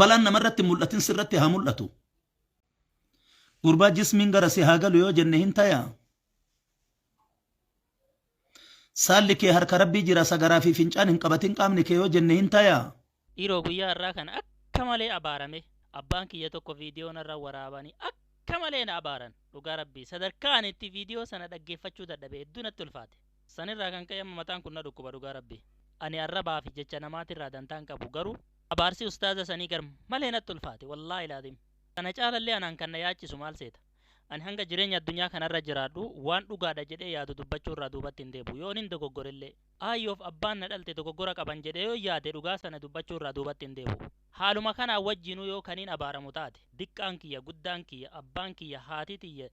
Balaan namarratti hin mul'atin sirratti haa mul'atu. Gurbaa jismiin gara si haa galu yoo jenne hin tayaa? Saalli kee harka Rabbii jira sagaraa fi fincaan hin qabatin qaamni kee yoo jenne hin tayaa? Dhiiroo guyyaa har'aa kana akka malee abaarame abbaan kiyya tokko viidiyoo narra waraabanii akka malee na abaaran dhugaa rabbii sadarkaa ani itti viidiyoo sana dhaggeeffachuu dadhabe hedduu natti ulfaate. San irraa kan ka'e amma mataan kun na dhukkuba dhugaa rabbii. Ani arrabaa fi jecha namaatirraa dantaa hin qabu garuu abaarsi ustaaza sanii gar malee natti ulfaate wallaahi laazim. Kana caala illee anaan kan na yaachisu maal seeta? Ani hanga jireenya addunyaa kana irra jiraadhu waan dhugaadha jedhee yaadu dubbachuu irraa duubatti hin deebi'u yoonin dogoggore illee. Aayyoo fi abbaan na dhalte dogoggora qaban jedhee yoon yaade dhugaa sana dubbachuu irraa duubatti hin deebi'u. Haaluma kanaan wajjiinuu yoo kanin abaaramu taate diqqaan kiyya, guddaan kiyya, abbaan kiyya, haati tiyya,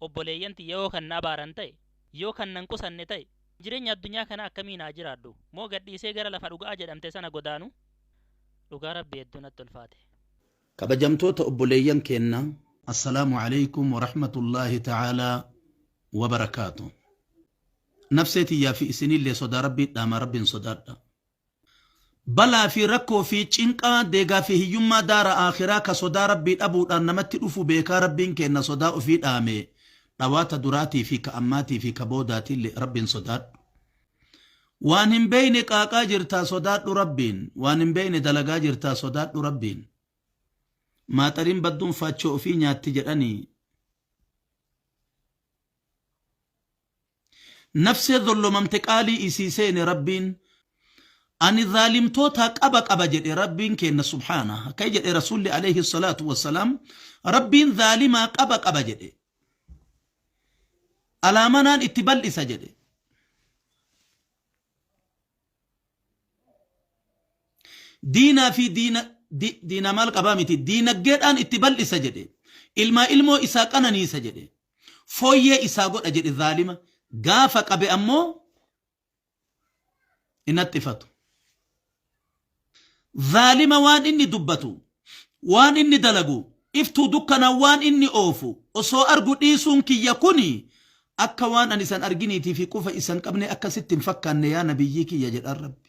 obboleeyyan tiyya yoo kan na abaaran ta'e, yoo kan nan qusanne ta'e, jireenya addunyaa kanaa akkamiin haa jiraadhu? Moo gad dhiisee gara lafa dhuga'aa jedhamte sana godaanu? Dhugaa Rabbii hedduu natti ulfaate. Kabajamtoota obboleeyyan keenna Assalaamu Aleykum Warahmatullaahi Ta'aalaa Wabarakaatuh Nafsee tiyyaa fi isiniillee sodaa Rabbii dhaamaa Rabbiin sodaadhaa. Balaa fi rakkoo fi cinqaa, deegaa fi hiyyummaa daara aakhiraa ka sodaa Rabbii dhabuudhaan namatti dhufu beekaa Rabbiin keenna sodaa ufii dhaame, dhawaata duraatii fi ka ammaatii fi ka boodaatiille Rabbiin sodaadhu. Waan hin beeyne qaaqaa jirtaa sodaadhu Rabbiin, waan hin beeyne dalagaa jirtaa sodaadhu Rabbiin. Maaxariin badduun faachoo ufii nyaatti jedhanii. Nafsee zollomamte qaalii isii seene Rabbiin Ani zaalimtootaa qaba qaba jedhe Rabbiin keenna subhaanah. Akkay jedhe Rasuulli aleyhi salaatu wassalaam Rabbiin zaalimaa qaba qaba jedhe. Alaamanaan itti bal'isa jedhe. Diinaa fi diina di, diina maal qabaa miti diinaggeedhaan itti bal'isa jedhe. Ilmaa ilmoo isaa qananiisa jedhe. foyyee isaa godha jedhe zaalima gaafa qabe ammoo hin haxxifatu. Zaalima waan inni dubbatu, waan inni dalagu, iftuu dukkana waan inni oofu osoo argu dhiisuun kiyya kuni akka waan ani isan arginiitii fi qufa isan qabne akkasitti hin fakkaanne yaa nabiyyii kiyya jedhaan rabbi.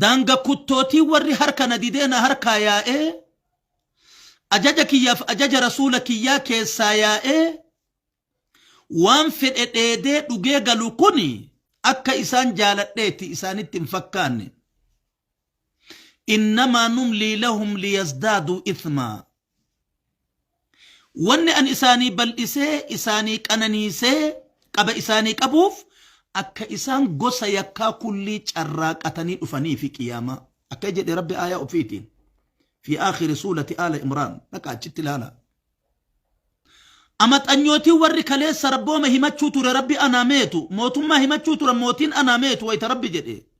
Daanga kuttootii warri harka na didee na harkaa yaa'ee, ajaja kiyyaaf ajaja Rasuula kiyyaa keessaa yaa'ee waan fedhe dheedee dhugee galu kun akka isaan jaaladheeti isaanitti hin fakkaanne. Innamaa numlii lahum liyazdaaduu ithmaa. Wanni ani isaanii bal'isee, isaanii qananiisee, qaba isaanii qabuuf, akka isaan gosa yakkaa kullii carraaqatanii dhufanii fi qiyaamaa. Akka jedhe Rabbi aayaa ofiitiin. Fi aakhiri suulati aala Imraan. Dhaqa achitti ilaala. Amaxanyootiin warri kaleessa Rabbooma himachuu ture Rabbi anaa meetu, mootummaa himachuu turan mootiin anaa meetu wayta Rabbi jedhe.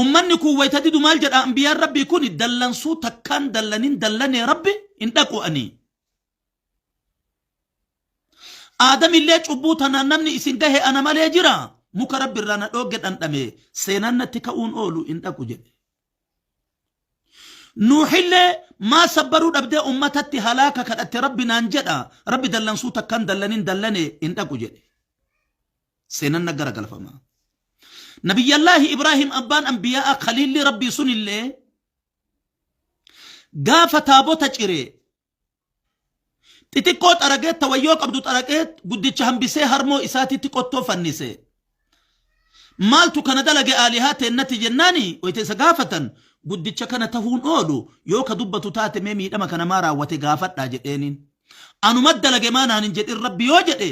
Ummanni kun wayita didu maal jedha anbiyaan rabbii kun dallansuu takkaan dallanin dallanee rabbi hin dhaqu ani. Aadamillee cubbuu tanaan namni isin gahe ana malee jira muka rabbi irraa na dhoogge dhandhame seenaan natti ka'uun oolu hin dhaqu jedhe. nuuxillee maa sabbaruu dhabdee ummatatti halaaka kadhatte rabbi naan jedha rabbi dallansuu takkan dallanin dallane hin dhaqu jedhe seenan na garagalfama nabiyyallaahi ibraahim abbaan anbiyaa'a kaliilli rabbii sunillee gaafa taabota cire Xixiqqoo xaragee tawayyoo qabdu xaragee guddicha hambisee harmoo isaatiitti qottoo fannise. Maaltu kana dalage aalihaa teennati jennaani wayita isa gaafatan guddicha kana tahuun oolu yoo ka dubbatu taate mee miidhama kana maa raawwate gaafadhaa jedheeniin. Anuma dalage maa naan hin jedhin rabbi yoo jedhe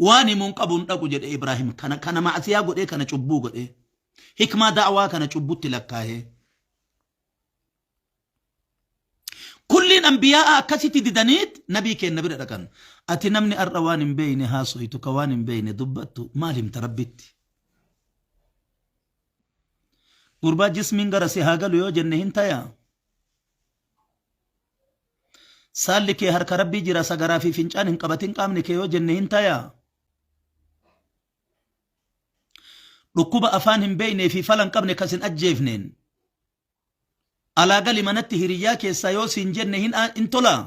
waan himuun qabu hin dhaqu jedhe Ibraahim kana kana ma'asiyaa godhee kana cubbuu godhee hikmaa da'awaa kana cubbutti lakkaa'ee kulliin anbiyaa'a akkasitti didaniit nabii keenna bira dhaqan ati namni har'a waan hin beeyne haasoytu ka waan hin beeyne dubbattu maal himta rabbitti gurbaa jismiin gara si haa galu yoo jenne hin tayaa Saalli kee harka rabbii jira sagaraa fi fincaan hin qabatin qaamni kee yoo jenne hin tayaa. Dhukkuba afaan hin beeknee fi fala hin qabne kas hin ajjeefneen. Alaa gali manatti hiriyyaa keessaa yoo siin jenne hin, hin tolaa.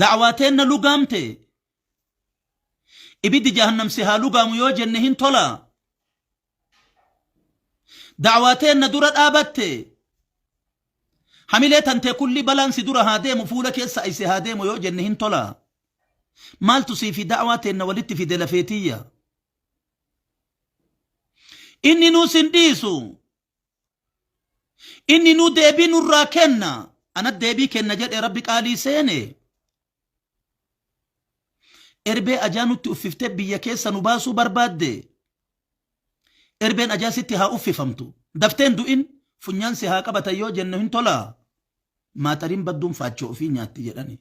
Da'waa teenna lugaamte. Ibiddi jahannam si haa lugaamu yoo jenne hin tolaa. da'awaa teenna dura dhaabatte hamilee tantee kulli balaan si dura haa deemu fuula keessa ayse haa deemu yoo jenne hin tola maaltu sii fi da'awaa teenna walitti fide lafeetiyya inni nuu sin dhiisu inni nuu deebii nurraa kenna anat deebii kenna jedhe rabbi qaalii seene Erbee ajaa nutti uffiftee biyya keessa nu baasuu barbaaddee? Erbeen ajaa sitti haa uffifamtu. Daftee hin du'in funyaan si haa qabatan yoo jennu hin tolaa? Maaxariin badduun faachoo ofii nyaatti jedhani.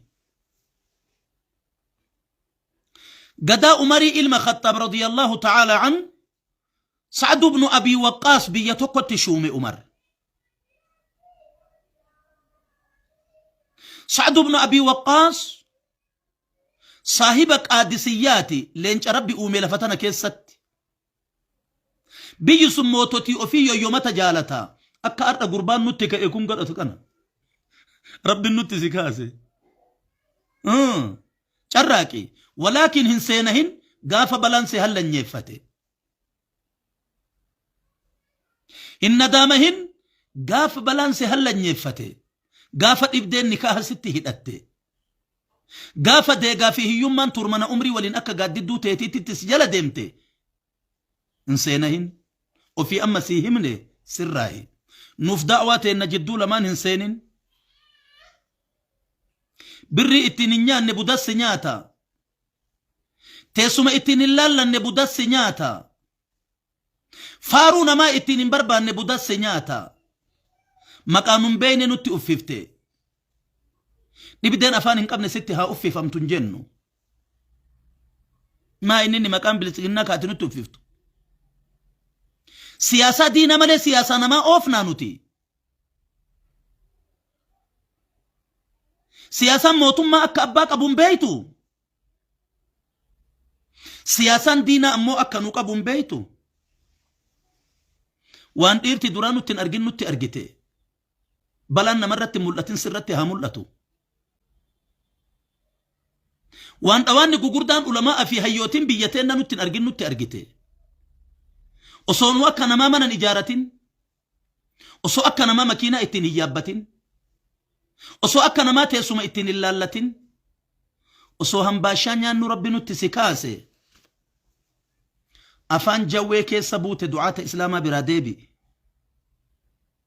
Gadaa Umarii ilma Khaxxaab radiyallahu ta'ala an Sa'ad ibnu Abii Waqqaas biyya tokkotti shuume Umar. Sa'ad ibnu Abii Waqqaas saahiba qaadisiyyaati leenca rabbi uume lafa tana keessatti. Biyyi sun moototii ofii yoyyomata jaalata. Akka har'a gurbaan nutti ka'e kun godhatu kana. Rabbi nutti si kaase. Carraaqi. Walaakin hin seenahin gaafa balaan si hallanyeeffate. Hin nadaamahin gaafa balaan si hallanyeeffate. Gaafa dhibdeen nikaaha sitti hidhatte. Gaafa deegaa fi hiyyummaan tuurmana umrii waliin akka gaaddidduu teetiittitti si jala deemte hin seenahin ofii amma sii himne sirraahi nuuf da'waa teenna jidduu lamaan hin seenin birrii ittiin hin nyaanne budassi nyaata teessuma ittiin hin laallanne budassi nyaata faaruu namaa ittiin hin barbaanne budassi nyaata maqaa nun beeyne nutti uffifte dhibdeen afaan hin qabne sitti haa uffifamtu hin jennu maa inni inni maqaan bilisiginnaa kaati nutti uffiftu siyaasaa diina malee siyaasaa namaa oofnaa nuti siyaasaan mootummaa akka abbaa qabuun beeytu siyaasaan diinaa ammoo akka nu qabuun beeytu waan dhiirti duraa nutti hin argin nutti argite Balaan namarratti mul'atin sirratti haa mul'atu. Waan dhawaanni gugurdaan ulamaa fi hayyootiin biyya teenna nutti hin argin nutti argite. Osoo nu akka namaa mana hin ijaaratin, osoo akka namaa makiinaa ittiin hin yaabbatin, osoo akka namaa teessuma ittiin hin laallatin, osoo hambaashaa nyaannu rabbi nutti si kaase. Afaan jawwee keessa buute du'aata islaamaa biraa deebi'i.